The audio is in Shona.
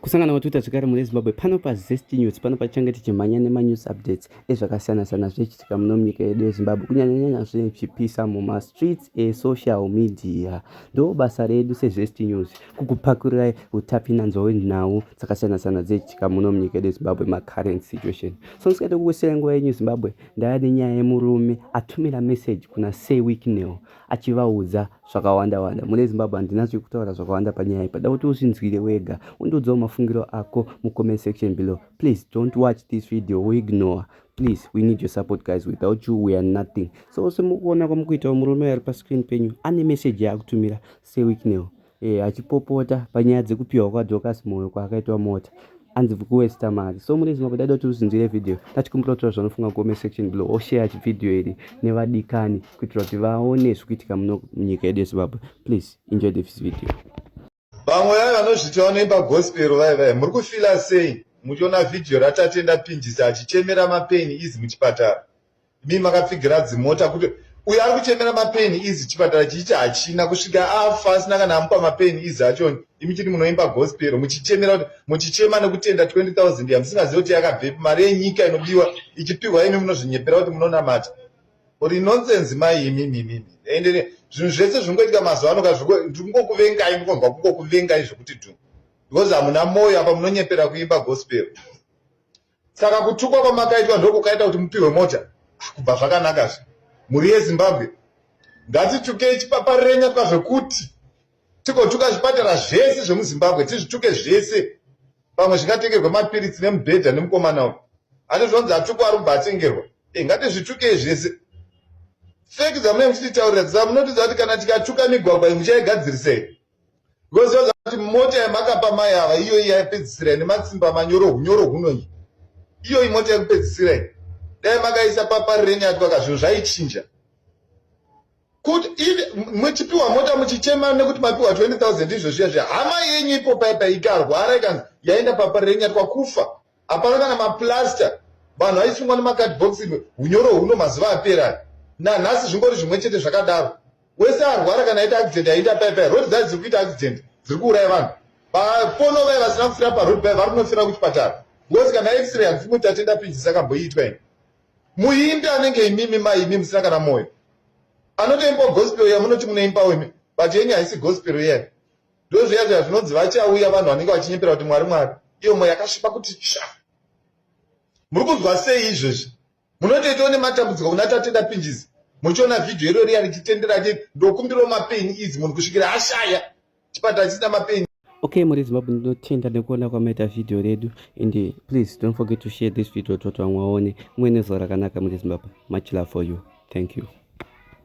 kusangana kwatwitter zvekare mune zimbabwe pano pazest news pano patichange tichimhanya nemanews updates ezvakasiyana-siyana zvichiitika muno munyika yedu yezimbabwe kunyanyanyanya zvichipisa mumastreets esocial media ndo basa redu sezest news kukupakurai utapinanzwa wenhau dzakasiyana-siyana dzichiitika muno munyika yedu yezimbabwe macurrent situation so ndisikati kukusirai nguva yenyu zimbabwe ndava nenyaya yemurume atumira message kuna sey weeknel achivaudza zvakawanda wanda mune zimbabwe handina zvekutaura zvakawanda panyaya iyi pada kuti uzvinzwire wega undiudzawo mafungiro ako mucomment section below please don't watch this video woignore please we need your support guys without you we are nothing so semukuona kwamukuitawo murume ari pascreen penyu ane message yaakutumira seweeknel e, achipopota panyaya dzekupiwa kwadocas moyo kwaakaitwa mota anzi kuwesta mari so mune zimbabwe daida kuti uzinzire vhidhiyo tatikumbira kutora zvanofunga kucomment section below osheya chivhidhiyo iri nevadikani kuitira kuti vaone zviri kuitika muno munyika yedu yezimbabwe please enjoy this video vamwe vaye vanozviti vanoimba gospero vaye vaye muri kufila sei muchiona vhidhiyo ratatenda pinjisa achichemera mapeni izi muchipatara mi makapfigira dzimota kuti uyo ari kuchemera mapeni izi chipatara chiichi hachina kusvika afa asina kana amupa mapeni izi achoni imi chiti munoimba gospero muchichemera kuti muchichema nekutenda 20 000 yamusingazive kuti yakabvepi mari yenyika inobiwa ichipiwa imi munozvinyepera kuti munonamata uri nonsense mai imi mimi ende zvinhu zvese zvingoitika mazuva ano ka zvikungokuvengai mukonzwa kungokuvengai zvekuti dhu because hamuna moyo apa munonyepera kuimba gospero Saka kutukwa kwamakaitwa ndokukaita kuti mupihwe mota ah, kubva zvakanaka zve mhuri yezimbabwe ngatitukei chipapa renya kwazvekuti tigotuka zvipatara zvese zvemuzimbabwe tizvituke zvese pamwe zvingatengerwa mapiritsi nemubhedha nemukomana uyu ane zvanzi atukwa ari kubva atengerwa e ngatizvitukei zvese feki dzamunenge muchititaurira dzaa munotidza kuti kana tikatuka migwagwa iyi muchaigadzirisei Because yoza kuti mota yamakapa mai ava iyoyi yaipedzisira ine matsimba manyoro hunyoro hunoyi. Iyoyi mota yekupedzisira iyi. Dai makaisa paparireni yatwaka zvinhu zvaichinja. Kuti muchipiwa mota muchichema nekuti mapiwa 20,000 izvo zviya zviya. Hama yenyu ipo paipa ikarwara ikanzi yaenda paparireni yatwa kufa. hapana kana maplaster vanhu vaisungwa nemacard box imwe unyoro huno mazuva apera nanhasi zvingori zvimwe chete zvakadaro wese arwara kana aita accident aita paipai road dza dziri kuita accident dziri kuuraya vanhu vapono vaye vasina kufira paroad pai vari kunofira kuchipatara ngozi kana x-ray hanzi mutatenda pinjisa kamboiitwa ini muimbi anenge imimi mai imi musina kana mwoyo anotoimbawo gospel iya munoti munoimbawo imi but yenyu haisi gospel iyai ndozviya zviya zvinonzi vachauya vanhu vanenge vachinyepera kuti mwari mwari iyo mweya yakasvipa kuti tsva muri kunzwa sei izvezvi munotoitawo nematambudziko kuna tatenda pinjizi muchiona vhidhiyo iro riya richitendera ti ndokumbirawo mapeni izi munhu kusvikira ashaya chipatara chisina mapeni okay muri zimbabwe ndinotenda nekuona kwamaita vhidhiyo redu and please don't forget to share this video toti vamwe vaone mumwe nezuva rakanaka muri zimbabwe much love for you thank you